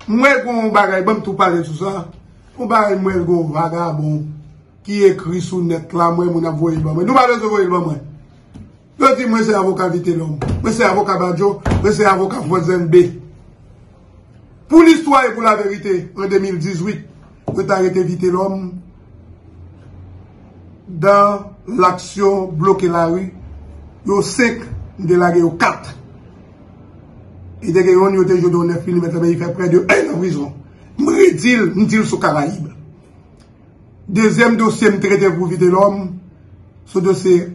M wè gen yon bagay, banm tou pale sou sa, yon bagay m wè gen yon vagabon ki ekri sou nèt la, m wè moun ap voye l ban mwen. Nou pa bezwen voye l ban mwen. Yo di mwen se avoka Vitelòm, mwen se avoka Badjo, mwen se avoka Frantzenbe. Pou listwa e pou laverite, an 2018, Pou yo ta rete Vitelòm dan laksyon bloke lari, yo 5, m te lage yo 4. E te gen yon yo te jwenn yon 9 milimèt la men li fè prè de 1 an prizon. M redi l, m di l sou Karayib. Dezyèm dosye m trete pou Vitelòm, sou dosye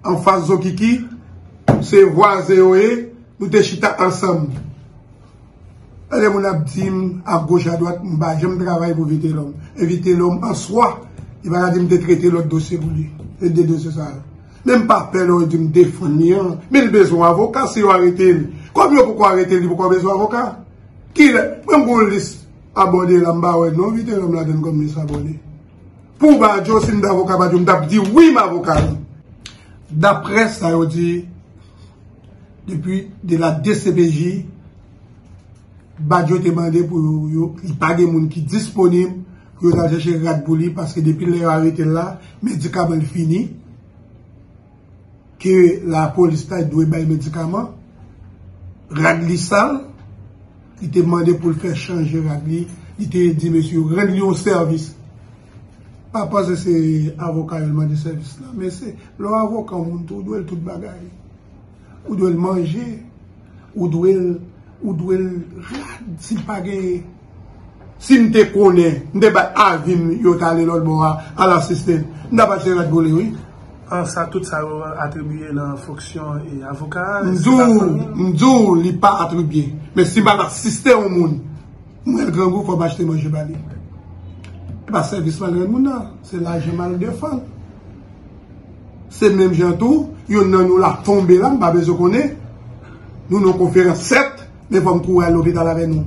anfas Zokiki, se vwazen yo ye, nou te chita ansanm. Lè moun ap di m a goch a dwat m pa janm travay pou Vitelòm. E Vitelòm an swa, li pa ka di m te trete lòt dosye pou li. Se 2 dosye sa yo. Men m pa pè lè yo di m defann li an. Men li bezwen avoka si yo arete li. Kòm yo poko arete li, li poko bezwen avoka. Kilè? Mwen m gon lis abòne la m pa wè non Vitelòm ladann kòm lis abòne. Pou Badjo, si m t avoka Badjo, m t ap di wi m avoka li. Daprè sa yo di, Depi de la dcpj, Badio te mande pou yo, li pa gen moun ki disponib pou yo ta chèche rad pou li paske depi lè yo arete l la, medikaman l fini, ke lapolis ta dwe bay medikaman, rad li sal. Li te mande pou l fè chanje rad li. Li te di mesye yo rann li yon sèvis. Pa panse se avoka yo l mande sèvis la. Men se lè w avoka yon moun tou, ou dwe l tout bagay. Ou dwe l manje. Ou dwe l, ou dwe l rad si l pa genyen. Si m te konnen, m te bay avi m yo t ale lòtbò a, al asiste l. M t ap achte rad pou li wi. An sa tout sa yo atribiye nan fonksyon avoka a? M di w, m di w li pa atribiye. Men si m pa t asiste yon moun mwen grangou fò m achte manje ba li. E pa sèvis m al rann moun nan, se lajan m al defann. Se menm jan tou, yonn nan nou la tonbe la, m pa bezwen konnen, nou nan konferans 7. Gen fanm kouri al lopital avè nou.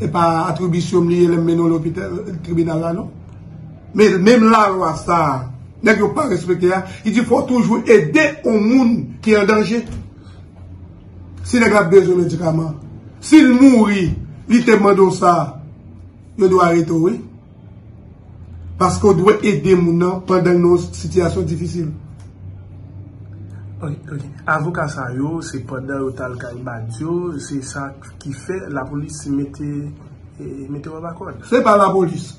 E pa atribisyonm li ye lèm mennen w lopital, tribinal la non. Men, menm la lwa sa, nèg yo pa respekte a, ki di fò toujou ede on moun ki an danje. Si nèg la ap bezwen medikaman, si l mouri, li te mande w sa, yo dwe arete w wi. Paske ou dwe ede moun nan pandan l nan yon sitiyasyon difisil. Avoka sa yo se pandan yo t al kay Badio, se sa ki fè lapolis mete yo anba kòd. Se pa lapolis.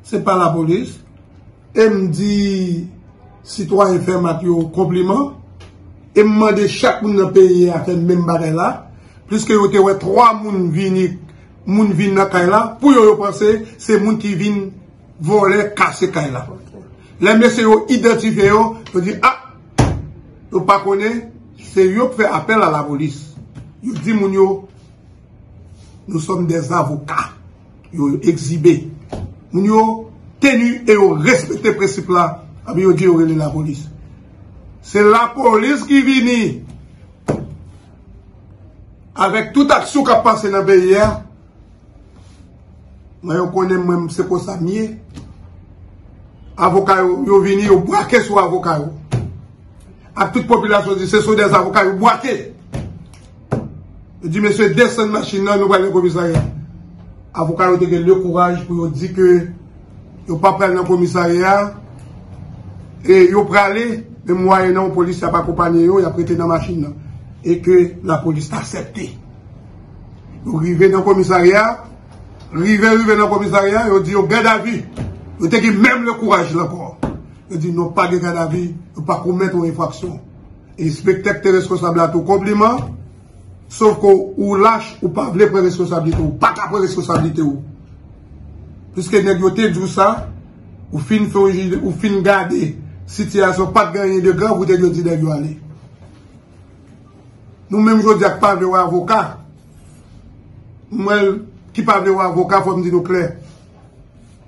Se pa lapolis. E m di sitwayen Fermat yo konpliman. E m mande chak moun nan peyi a fè menm bagay la. Pliske yo te wè 3 moun vini Moun vin nan kay la pou yo yo panse se moun ki vin vòlè kase kay la. Lè mesye yo idantifye yo, yo di a, yo pa konnen se yo k fè apèl a lapolis. Yo di moun yo, nou sòm de zavoka. Yo yo egzibe. Moun yo teni e yo respekte prensip la api yo di yo rele lapolis. Se lapolis ki vini. Avèk tout aksyon kap pase nan peyi a, mwen yo konnen mwen se konsa m ye, avoka yo, yo vini yo bwake sou avoka yo. Ak tout popilasyon di se sou dèz avoka yo bwake. Yo di mesye desann machin nan nou pral nan komisarya. Avoka yo te gen le kouraj pou yo di ke Yo pa pral nan komisarya a, e yo prale, men mwayenan yon polisye ap akonpanye yo, y ap rete nan machin nan, e ke lapolis asèpte. Yo rive nan komisarya a, rive rive nan komisarya a, yo di yo gadavi, yo te gen menm le kouraj la ankò. Yo di nou pa gen gadavi, nou pa komèt yon enfraksyon. Enspektè ki te reskonsab la tou konpliman, Sof ke ou lach, ou pa vle pran reskonsablite ou. Ou pa ka pran reskonsablite ou. Piske nèg yo te di ou sa, ou fin fè yon jijman, ou fin gade sitiyasyon pat gen anyen de grav ou te dwe di nèg yo ale. Nou menm jodi a ki pa vle wè avoka, mwen ki pa vle wè avoka fò m di nou klè.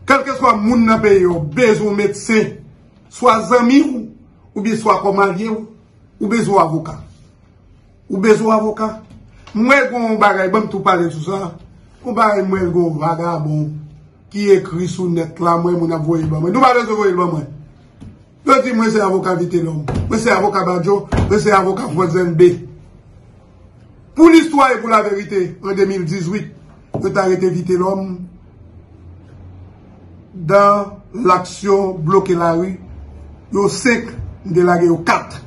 Kèlkeswa moun nan peyi yo bezwen yon medsen, swa zanmi ou, oubyen swa kòm alye ou, ou bezwen yon avoka. Ou bezwen avoka? Mwen gen yon bagay, ban m tou pale sou sa. Yon bagay mwen gen yon vagabon ki ekri sou nèt la, mwen moun ap voye l ban mwen. Nou pa bezwen voye l ban mwen. Yo di mwen se avoka Vitelòm, mwen se avoka Badjo, mwen se avoka Frantzenbe. Pou listwa e pou laverite, an 2018, Yo ta rete Vitelòm dan laksyon bloke lari. Yo 5, m te lage yo 4.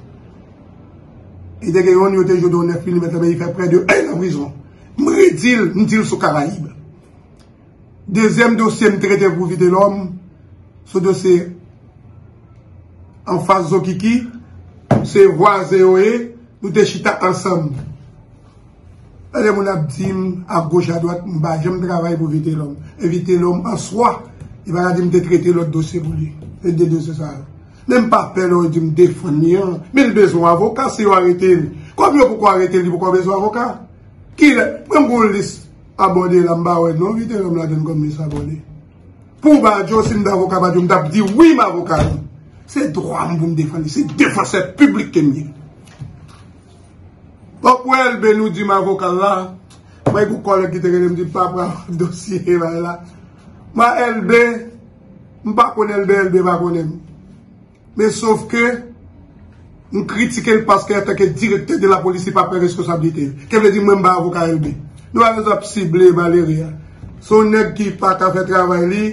E te gen youn yo te jwe de yon 9 milimèt la men li fè prè de 1 nan prizon. M redi l, m di l sou Karayib. Dezyèm dosye m trete pou Vitelòm, sou dosye anfas Zokiki, se vwazen yo ye, nou te chita ansanm. Lè moun ap di m a goch a dwat m pa janm travay pou Vitelòm. E Vitelòm an swa, yo pa ka di m te trete lòt dosye pou li. Se de dosye sa yo. Men m pa pè lè yo di m defann li an. Men li bezwen yon avoka si yo arete li. Kòm yo poko arete li, li poko bezwen avoka. Kilè? Ban m yon lis abòne la m pa wè non Vitelòm ladann kòm lis abòne. Pou Badjo, si m te avoka Badjo, m t ap di wi m avoka li. Se dwa m pou m defann li. Se defansè piblik ke m ye. Pòp wè elbe nou dim avoka la bay pou kòlèg ki te relem di pa pran dosye e bay la mwen elbe m pa konn elbe elbe pa konnen m men sof ke m kritike l paske an tanke direktè de la polis li pa pran reskosablite l ke vle di mwen m pa avoka elbe nou pa bezwen ap sible malere a se yon nèg ki pa ka fè travay li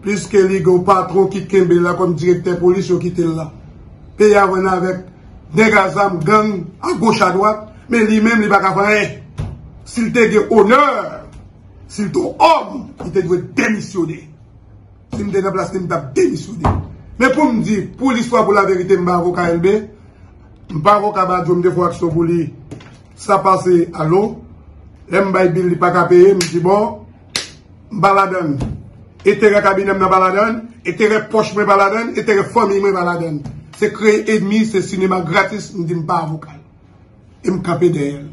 pliske li gen yon patron ki kenbe l la kòm direktè polis yo kite l la peyi a vann avèk. Nèg a zam gang a goch a dwat men li menm li pa ka fè anyen. Si l te gen onè, si l te yon òm, li te dwe demisyone. Si m te nan plas li m t ap demisyone. Men pou m di, pou listwa pou laverite m pa avoka Elbe, m pa avoka Badio m te fè aksyon pou li sa pase alo. Lè m bay bil li pa ka peye m di bon. m pa ladan l. Enterè kabinè m nan pa ladan l. Enterè pòch mwen pa ladan l. Enterè fanmiy mwen pa ladan l. Se kreye enmi, se sinema gratis, m di m pa avoka l. E m kanpe dèyè l.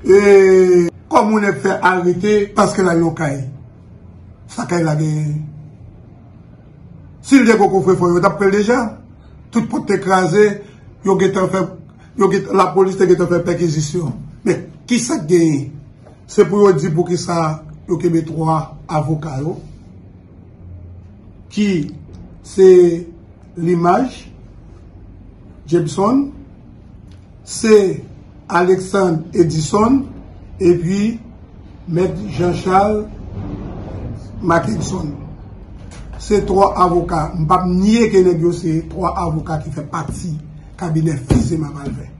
E. Kòm ou nèk fè arete paske l al yon kay. Sa kay la gen. Si l te gen kofre fò yo t ap pran l deja. Tout pòt te kraze. Yo gen tan fè. Lapolis te gen tan fè pèkizisyon. Men, ki sa k gen? Se pou yo di poukisa yo kenbe 3 avoka yo ki se Limage Jepson, se Alexandre Edison epi Mèt Jean Charles Mackenson. Se 3 avoka, m pa p nye ke nèg yo se 3 avoka ki fè pati kabinè Fils-Aimé Malvin.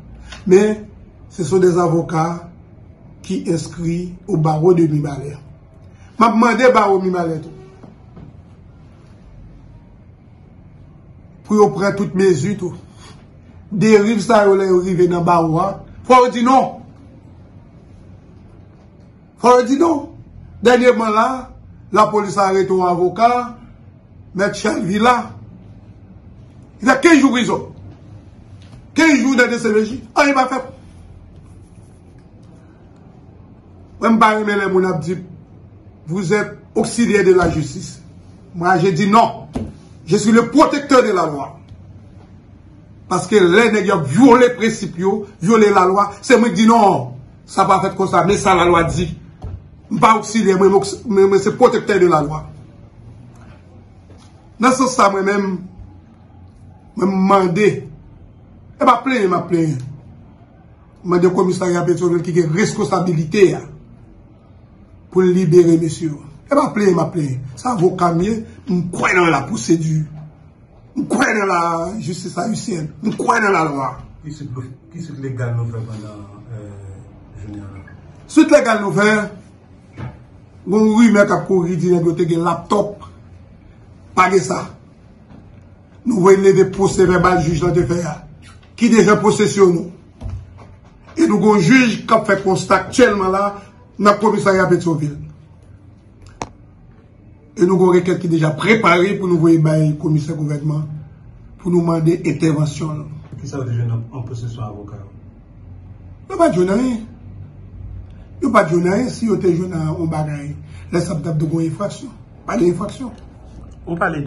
Men, se sou 2 avoka. ki enskri o bawo de Mibalè. M ap mande bawo Mibalè tou pou yo pran tout mezi tou. Deriv sa yo lè yo rive nan bawo a, fò yo di non. Fò yo di non. Dènyèman la, lapolis arete yon avoka. Mèt Chelvi la, li fè 15 jou prizon. 15 jou nan DCPJ, anyen pa fèt. Mwen pa renmen lè moun ap di, vous êtes auxiliaire de la justice. Mwen je di non. Je suis le protecteur de la loi. Paske lè nèg yo vyole prensip yo, vyole la lwa, se mwen di non, sa pa fèt konsa, men sa la lwa di. Mwen pa oksilyè, mwen se pwotektè de la lwa. Nan sans sa mwen menm, mwen m mande, e pa plenyen m ap plenyen, m mande komisari a Petyonvil ki gen reskosabilite a, pou l libere mesye yo. E pa plenyen m ap plenyen, sa vò kam ye, m kwen nan la pwosedi, m kwen nan la jistis ayisyen, m kwen nan la lwa. Ki sit legal nou fè pandan jounen an? Sit legal nou fè? Gon rumè kap kouri di nèg yo te gen laptop. Pa gen sa. Nou voye leve pwosè vèbal jij lan te fè a. Ki deja posesyon nou. E nou gon jij kap fè konsta aktyèlman la nan komisarya Petyonvil. E nou gon rekèt ki deja prepare pou nou voye bay komisè gouvènman pou nou mande entèvansyon l. Ki sa yo te jwenn an posesyon avoka yo? Yo pa t jwenn anyen. Yo pa t jwenn anyen. Si yo te jwenn yon bagay, lè sa p t ap di gon enfraksyon. Pa gen enfraksyon. Ou pale de.